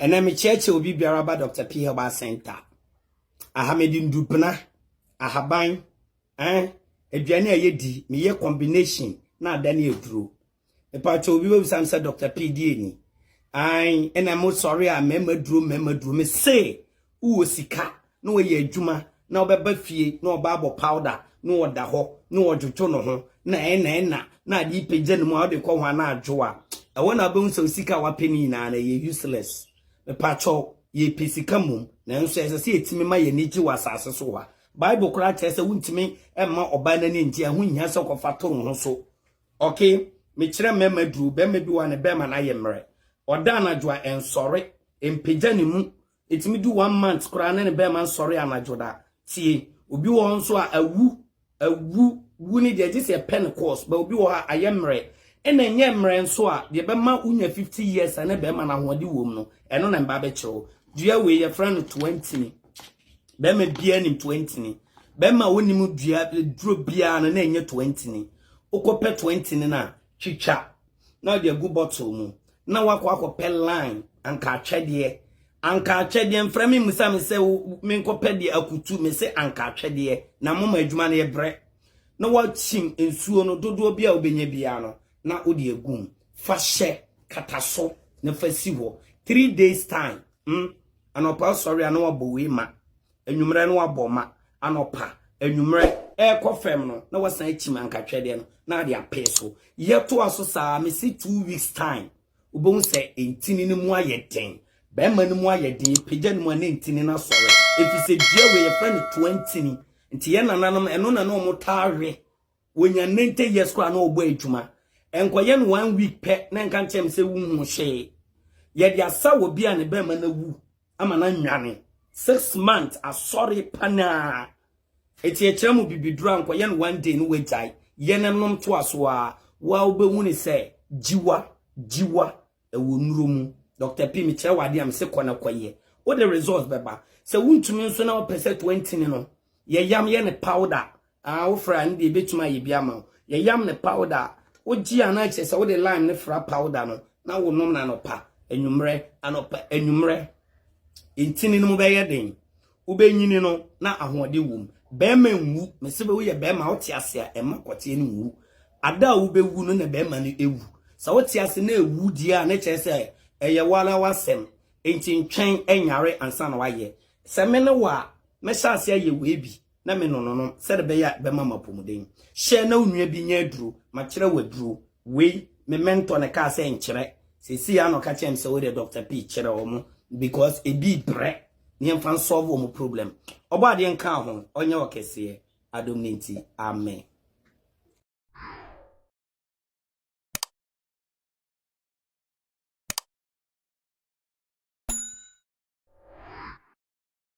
ɛnɛ mekyerɛkyerɛ obi biara ba dr p herbal center aha mede ndubena ahaban eh, aduane a yɛdi meyɛ combination na ada ne aduro Mpakyɛw obi bɛbisa me sɛ Dr. PDA ni? Ae, ɛna mo sɔre a mmarima duro mmarima duro me se wowɔ sika na wɔyɛ adwuma na wɔbɛba fie na ɔba abɔ powder na ɔda hɔ na ɔdwodwo no ho na ɛna ɛna na ade pagya no mu a wode kɔ ho a na adwo a ɛwɔ na wobɛhu sɛ sika a wapɛ no nyinaa na ɛyɛ useless mepakyɛw yɛpɛ sika mmom nanso ɛsɛ sɛ yɛtumi ma yɛn ani gye wɔ asase so hɔ a bible koraa kyerɛ sɛ wontumi mma ɔbaa no ani ngye a ho nhia sɛ kɔfa to wo ho so Okay mekyerɛ mmarima duru barima bi wa ne bɛrima no ayɛ mmerɛ ɔda anadwo a ɛnsɔre mpagya ne mu ɛtumi du one month koraa ne ne bɛrima nsɔre anadwo da tie obi wɔ hɔ nso a awu awu wu ne deɛ gye sɛ ɛpɛ ne course ba obi wɔ hɔ a ayɛ mmerɛ ɛna ɛnyɛ mmerɛ nso a deɛ bɛma wonya 50 years a ne bɛrima no ahoɔde wɔ mu no ɛno na mba bɛkyerɛ wo dua wei yɛfrɛ no 20 bɛrima biara nim toa ntini bɛrima a wonim dua duro biara no na ɛnyɛ toa ntini wokɔpɛ toa ntini no a twitwa na ɔde agu bottle mu na wakɔ akɔpɛ line anka atwɛdeɛ anka atwɛdeɛ mfrɛ me mmusa me sɛ menkɔpɛ deɛ akutu me sɛ anka atwɛdeɛ na moma adwuma no yɛbrɛ na wakyim nsuo no dodoɔ bi a wobɛnya biara no na wode agu mu fa hyɛ kata so na fa si hɔ three days time mm. Anɔpa ɔsɔre a na wabɔ wei ma. Anwummerɛ na wabɔ ma. Anɔpa, anwummerɛ, ɛrekɔ fam no na wasan akyim ankatwɛdeɛ no na ade apee so. Yɛtoa so saa, mese two weeks time wobɛhu sɛ ntini no mu ayɛ den. Bɛrima no mu ayɛ den, yɛpagya no mu a na ntini no asɔre. Ɛfiri sɛ dua wei yɛfrɛ no toantini. Nti yɛn nananom ɛno na na wɔtaa we. Wɔnya ninety years koraa na ɔbɔ adwuma. Ɛnkɔyɛ no one week pɛ na ɛnka nkyerɛ me sɛ wohunu hwee. Yɛde asa wɔ bi a ne bɛrima no awu ama no anwane. Six months asɔre panaa. Ɛti ɛkyerɛ mo bibiduro a nkɔyɛ no one day no wagyae. Yɛ no nom toa so a wo a wobɛhu ne sɛ gyiwa, gyiwa, ɛwɔ nnuro mu. Doctor P mekyerɛ wo adeɛ a mese kɔ na kɔyɛ. Wode results bɛba. Sɛ wontumi nso na wopɛ sɛ twenty no yɛ yam yɛ no powder Ah, wo fra no deɛ ebetumi ayɛ bi ama wo. Yɛyam ne powder a, wogye a na kyerɛ sɛ wode lime ne fra powder no na wonom no anɔpa, anwummerɛ, anɔpa, anwummerɛ. Ntini no mu bɛyɛ den. Wobɛnyini no na ahoɔden wom. Bɛrima nwu, mese bɛ woyɛ bɛrima a wote ase a ɛma kɔteɛ no nwu. Ada a wobɛwu no na bɛrima no ewu. Sɛ wote ase na ewu deɛ a na kyerɛ sɛ ɛyɛ wara w'asɛm. Enti ntwɛn nyare ansa na wayɛ. Sɛ me ne wo a, mɛhyɛ ase ayɛ wei bi. na me nono no sɛde bɛyɛ a bɛma mapɔmuden. Hyɛ na wo nua bi nya aduro, makyerɛ wo aduro wei, me mentor na ɛkaa sɛ nkyerɛ, seesei ara na ɔka kyerɛ me sɛ wodeɛ Doctor P kyerɛ wɔn because ebi brɛ na yɛmfa nsɔɔvo wɔn problem. Ɔbɔ adeɛ nka ho, ɔnyɛ ɔkɛseɛ, adom ne nti, amen.